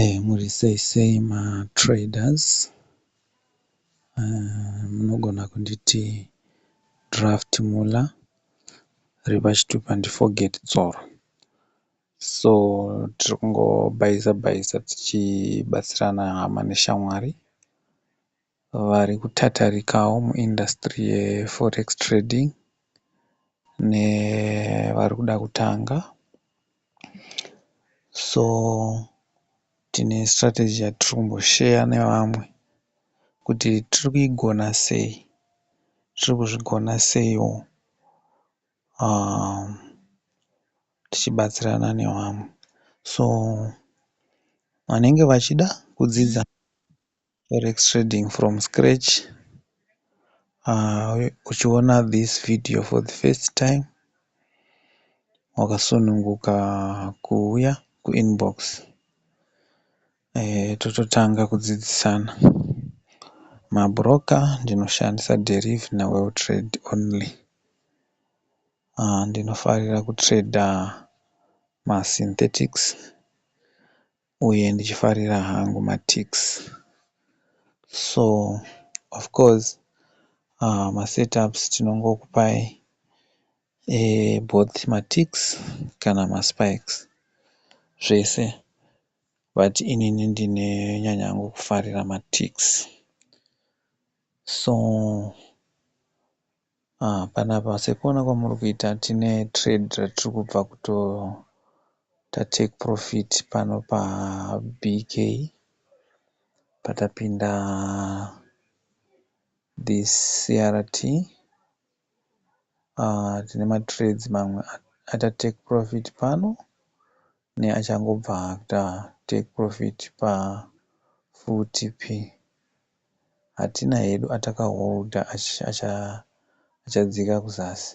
Eeh muri sei sei ma traders munogona kunditi Draft Muller ari pachitupa ndi Forget Dzoro. So tiri kungobhaiza bhaiza tichibatsirana hama neshamwari. vari kutatarikawo mu industry ye forex trading nevari kuda kutanga so tine strategy yatiri kumbosheya nevamwe kuti tiri kuigona sei, tiri kuzvigona seiwo tichibatsirana nevamwe so vanenge vachida kudzidza. Forex trading from scratch uchiona this video for the first time wakasununguka kuuya kuinbox tototanga kudzidzisana. Mabhuroka ndinoshandisa Derive naWelltrade only. Ndinofarira kutrader masynthetics uye ndichifarira hangu maticks so of course masetups tinongokupai eboth maticks kana maspikes zvese but inini ndinonyanya hangu kufarira maticks so Haa panapa sekuona kwamuri kuita tine trade ratiri kubva kutoita take profit pano paBK patapinda this CRT haa tine matrades mamwe aita take profit pano neachangobva kuita take profit paFTP. hatina hedu ataka holder achadzika kuzasi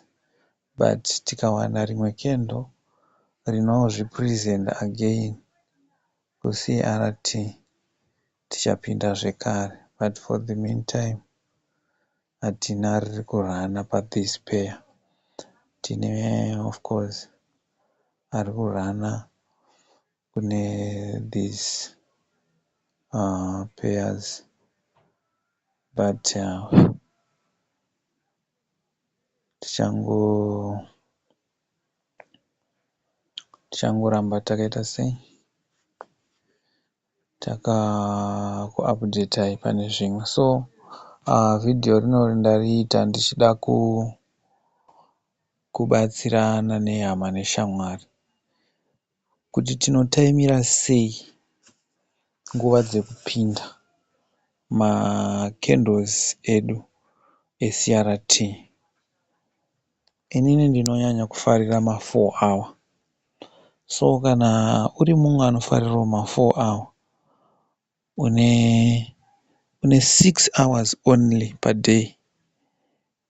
but tikawana rimwe candle rinozvi presenter again kuCRT tichapinda zvekare but for the meantime hatina riri kurunner pathis pair tine of course ari kurunner kune these pairs but tichangoramba takaita sei takakuupdatai pane zvimwe so video rinori ndariita ndichida kubatsirana nehama neshamwari. kuti tinotaimira sei nguva dzekupinda macandles edu eCRT. Inini ndinonyanya kufarira mafour awa so kana uri mumwe anofarirawo mafour awa une six hours only paday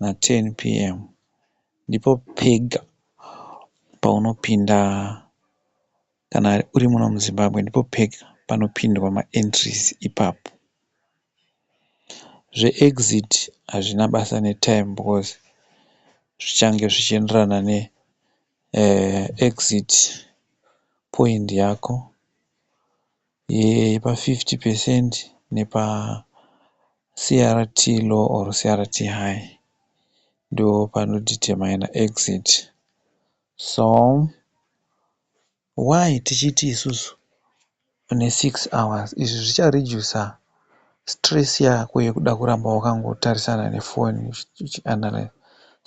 na 10 pm ndipo pega paunopinda kana uri muno muZimbabwe ndipo pega panopindwa ma entries ipapo. Zve exit hazvina basa ne time because zvichange zvichienderana ne exit point yako. yepa 50 percent nepa CRT low or CRT high ndopano determiner exit so why tichiti isusu ne 6 hours izvi zvicha reducer. stress yako yekuda kuramba wakangotarisana nefoni uchianalyser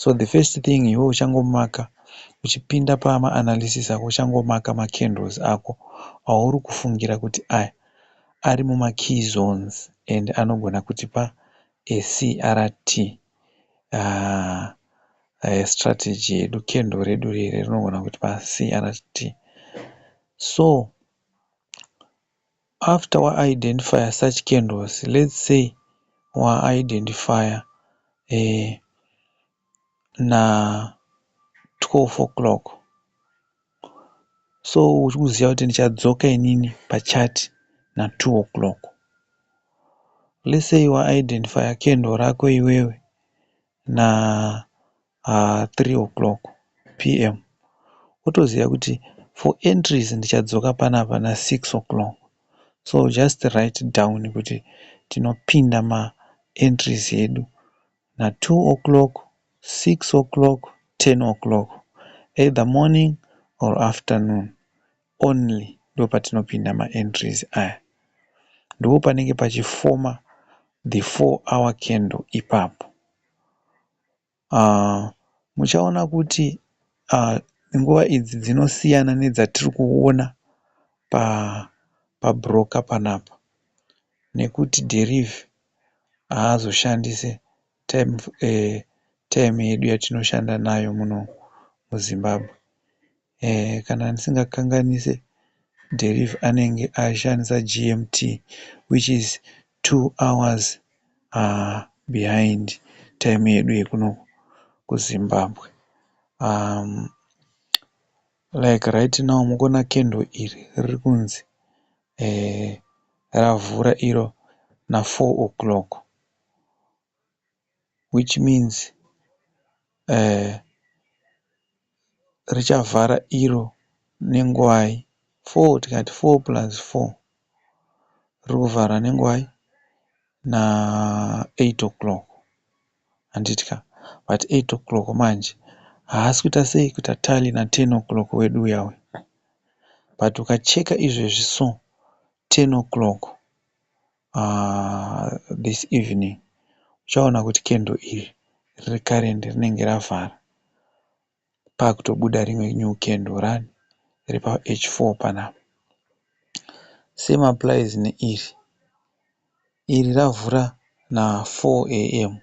so the first thing iwe uchangomaka uchipinda pamaanalysis ako uchangomaka macandles ako auri kufungira kuti aya ari mumakey zones and anogona kutipa acrt uh, uh, strategy yedu candle redu riri rinogona kutipa crt so After wa identifyer such candles let's say wa identifyer na 12 o'clock so uchikuziva kuti ndichadzoka inini pa chat na 2 o'clock. Let's say wa identifyer candle rako iwewe na 3 o'clock PM wotoziva kuti for entries ndichadzoka panapa na 6 o'clock so just write down kuti tinopinda ma entries edu na 2 o'clock, 6 o'clock, 10 o'clock either morning or afternoon only ndopatinopinda ma entries aya. Ndipo panenge pachi former the four hour candle ipapo. Muchaona kuti nguva idzi dzinosiyana nedzatiri kuona pabhuroka panapa nekuti dhirivhi haazoshandise taimu yedu yatinoshanda nayo muno muZimbabwe. Eeh kana ndisingakanganise Derive anenge ashandisa GMT which is two hours haa behind time yedu yekuno kuZimbabwe umm like right now mukuona candle iri riri kunzi eeh ravhura iro nafour o'clock. which means richavhara iro nenguvai. Four tikati four plus four riri kuvhara nenguvai? Na eight o'clock handiti ka? But eight o'clock manje haasi kuita sei kuita tally na ten o'clock wedu uya uya. But ukacheka izvezvi so ten o'clock this evening uchaona kuti candle iri riri current rinenge ravhara pakutobuda rimwe new candle rani riri pa H4 panapa same applies neiri iri ravhura na 4 am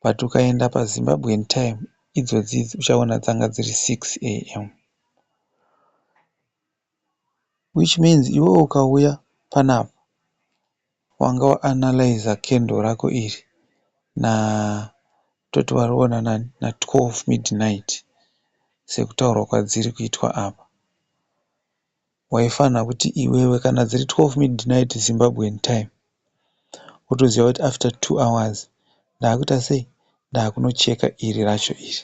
but ukaenda pa Zimbabwean time idzodzi idzi uchaona dzanga dziri 6 am Which means iwewe ukauya panapa wanga wa analyser candle rako iri na toti wariona nani na 12 midnight sekutaurwa kwadziri kuitwa apa. Waifanha kuti iwewe kana dziri 12 midnight Zimbabwean time wotoziva kuti after two hours ndakuita sei ndakunocheka iri racho iri.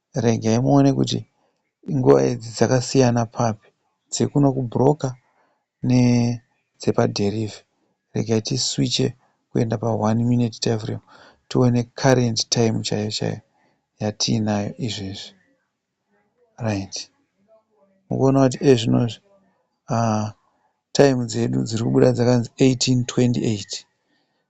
regai muone kuti nguva idzi dzakasiyana papi dzekuno kubroker nedzepadheriivhi. Regai tiswiche kuenda pa one minute time frame tione current time chaiyo chaiyo yatiinayo izvezvi. Right. Muri kuona kuti iye zvino izvi time dzedu dziri kubuda dzakanzi 1828.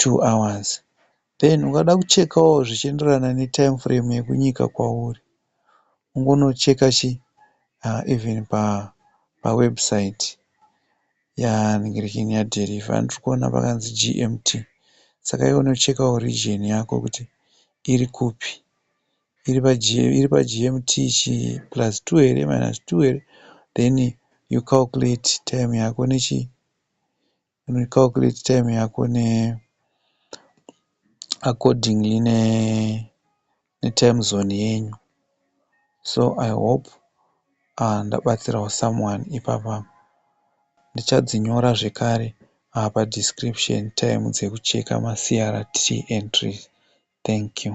two hours then ukada kuchekawo zvichienderana ne time frame yekunyika kwauri ungonocheka chi even pa pa website ya nhingirikini ya deliver andiri kuona pakanzi GMT saka iwe unochekawo region yako kuti iri kupi iri pa iri pa GMT chii plus two here minus two here then you calculate time yako nechi Uno calculate time yako ne accordingly ne time zone yenyu. So I hope ndabatsirawo someone ipapa. Ndichadzinyora zvekare pa description time dzekucheka ma CRT entries. Thank you.